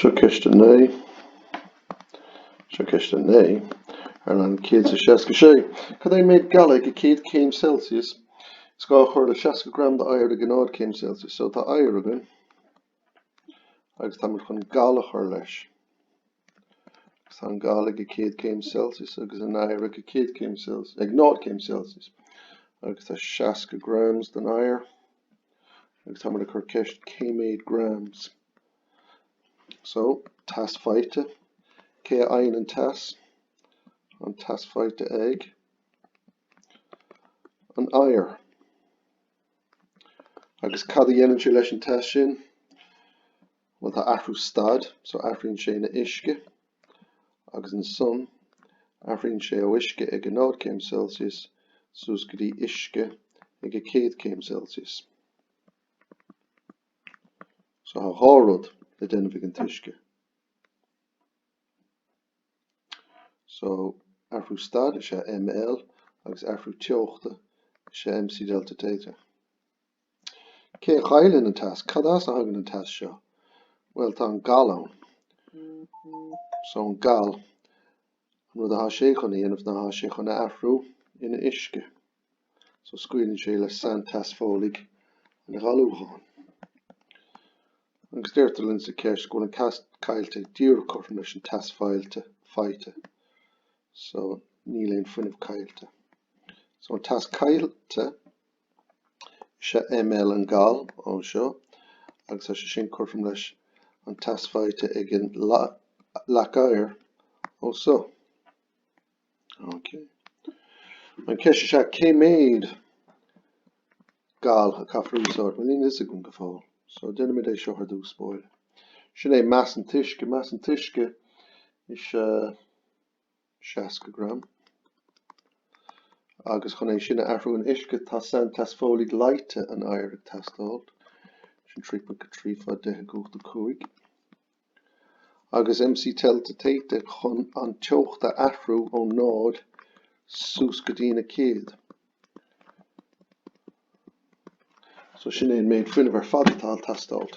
Seo ceist a naoi, Seo ceist a naoi, ar leathanach céad is seasca a sé, Cad é an méid gal ag a céad céim Celsius? Is gá a chur le seasca gram d'oighear ag a náid céim Celsius. So tá oighear againn agus táimid chun gal a chur leis. Tá an gal ag a céad céim Celsius agus an oighear ag céad céim Celsius, ag 0 céim Celsius, agus tá 60 grams den oighear, agus táimid ag cur ceist cé mhéad grams. So, teas faighte, cé a fhaigheann an teas? An teas faighte ag an oighear. Agus cad a dhéanann sé leis an teas sin? Bhuel tá athrú staid so athraíonn sé ina uisce, agus ansan athraíonn sé ó uisce ag a náid céim Celsius suas go dtí uisce ag a céad céim Celsius. So tá dhá rud le déanamh ag an t-uisce. So athrú staid is é ML agus athrú teochta is é MC delta theta. Cé a chailleann an teas? Cad as a thagann an teas seo? Bhuel, tá an gal ann. So, an gal, an rud atá sé chun a dhéanamh ná tá sé chun a athrú ina uisce. So, scaoileann sé le sainteas folaigh an ghalúcháin. Agus deirtear linn sa ceist go bhfuil an teas caillte díreach cothrom leis an teas failte, faighte. So, níl aon fuinneamh caillte. So, an teas caillte, Is é ML an gal ó seo agus tá sé sin cothrom leis an teas faighte ag an leac oighir ó so. Okay. An ceist is ea cé mhéad gal a caithfear a úsáid? Bhuel, níl a fhios againn go fóill. So, déanaimid é seo ar dtús, bhuel. Sin é mais an t-uisce. Mais an t-uisce is ea 60 gram, agus chun é sin a athrú in uisce, tá sainteas folaigh leáite an oighir ag teastáil, sin 3.3 fá 10 i gcumhacht 5, agus MC delta theta chun an teocht a athrú ó 0 suas go dtína céad. So sin é an méid fuinnimh ar fad atá ag teastáil.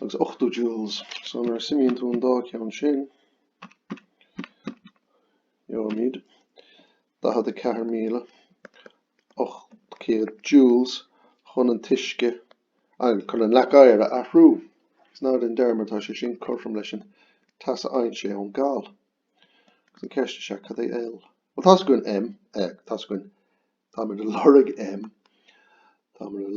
agus 80 joules. So nuair a suimíonn tú an dá cheann sin, gheobhaimid 44,800 joules chun an t-uisce, an, chun an leac oighir a athrú. Is ná déan dearmad, tá sé sin cothrom leis an teas a fhaigheann sé ón gal. Agus an cheist is ea, cad é L? Bhuel, tá's againn M, eh, tá's againn, táimid ag lorg M, táimid ag,